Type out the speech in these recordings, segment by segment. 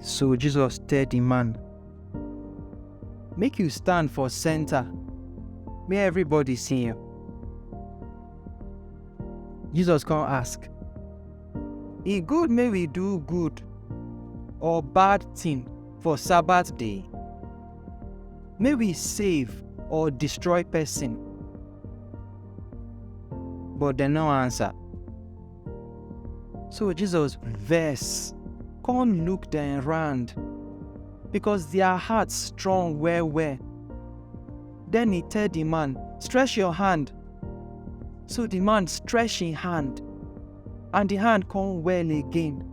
So Jesus tell di man, Make you stand for center, make everybody see you. Jesus come ask, E good make we do good or bad thing for Sabbath day? May we save or destroy person? But dem no answer. So Jesus vex, come look dem round, because their heart strong well well. Then he tell the man, Stretch your hand. So the man stretch him hand, and the hand come well again.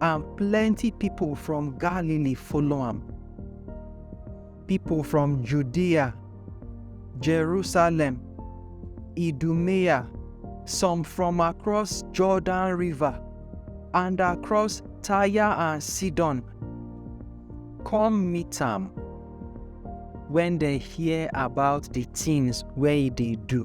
and plenty people from Galilee follow am. People from Judea, Jerusalem, Idumea, some from across Jordan River, and across Tyre and Sidon, come meet am when they hear about the things where they do.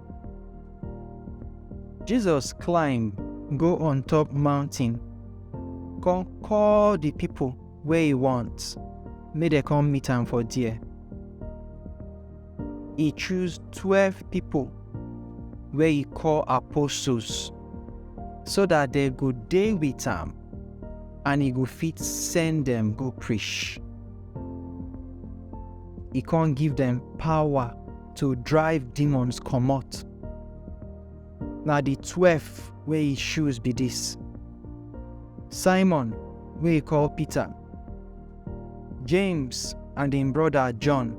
Jesus climb go on top mountain, come call the people wey e want make dem come meet am for there. E choose twelve people wey e call apostles so that dem go dey with am and e go fit send dem go preach. E come give dem power to drive demons comot. Na the twelve wey he choose be this. Simon wey he call Peter, James and him brother John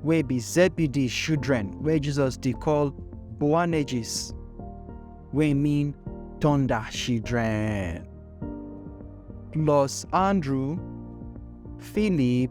wey be Zebedee children wey Jesus dey call Boanerges wey mean thunder children. Plus Andrew, Philip,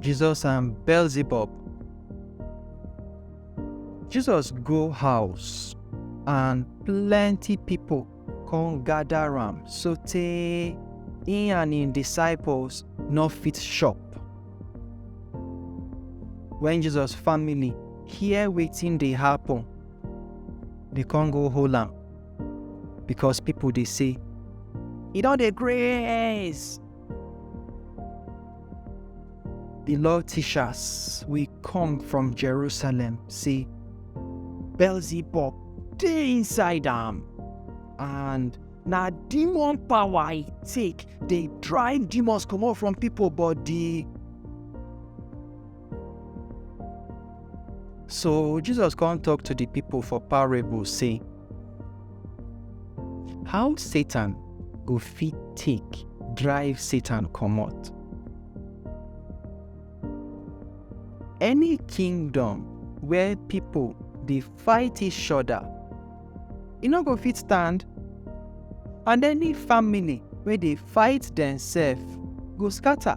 Jesus and Beelzebub. Jesus go house and plenty people come gather am sotey he and him disciples no fit shop. When Jesus family hear wetin dey happen, they come go hold am because people dey say, e don dey grace. The Lord teachers, we come from Jerusalem. See, Beelzebub, they inside them. And now demon power I take, they drive demons come out from people, but the So Jesus come talk to the people for parable say, How Satan go fit take drive Satan comot? Any kingdom where people dey fight each other, e no go fit stand, and any family wey dey fight themselves go scatter.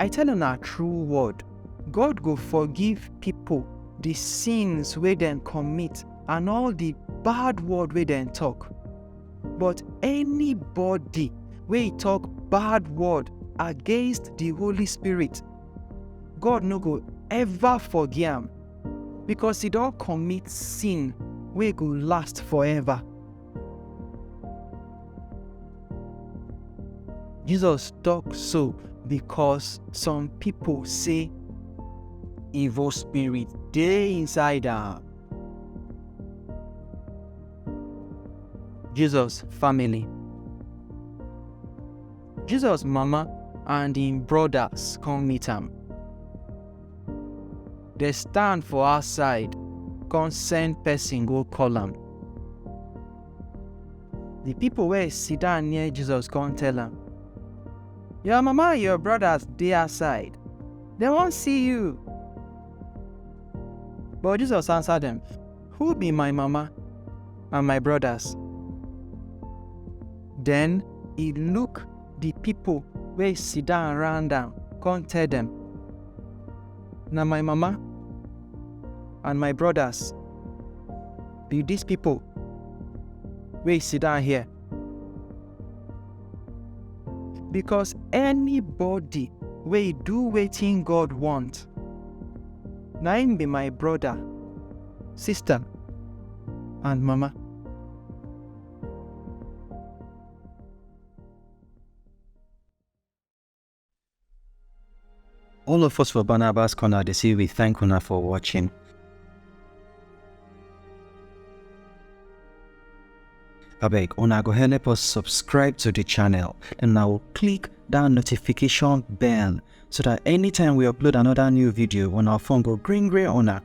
I tell una true word, God go forgive pipo di sins wey dem commit and all di bad word wey dem tok. But anybody wey tok bad word against di Holy Spirit, God no go ever forgive am, becos e don commit sin wey go last forever. Jesus talk so because some people say evil spirit dey inside am. Jesus family. Jesus mama and im brothers come meet am. Dey stand for outside, come send person go call am. The people wey sit down near Jesus come tell am, Your mama and your brothers dey outside, dem wan see you. But Jesus answer dem, Who be my mama and my brothers? Then he look di pipo wey sidon round am kon tell dem, Na my mama and my brodas bi dis pipo wey sidon here. Bikos anybody wey do wetin God wont, na im bi my broda, sista and mama. All of us for Barnabas Corner, they say we thank una for watching. abeg una go help us subscribe to the channel and now click that notification bell so that anytime we upload another new video on our phone go green green una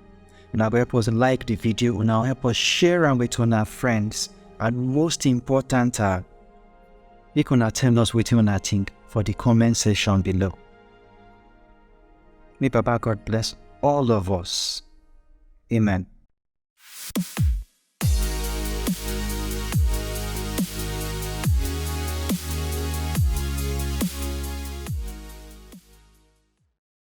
una go help us like the video una help us share am with our friends and most important ah Make una tell us wetin una think for the comment section below. May Baba God bless all of us. Amen.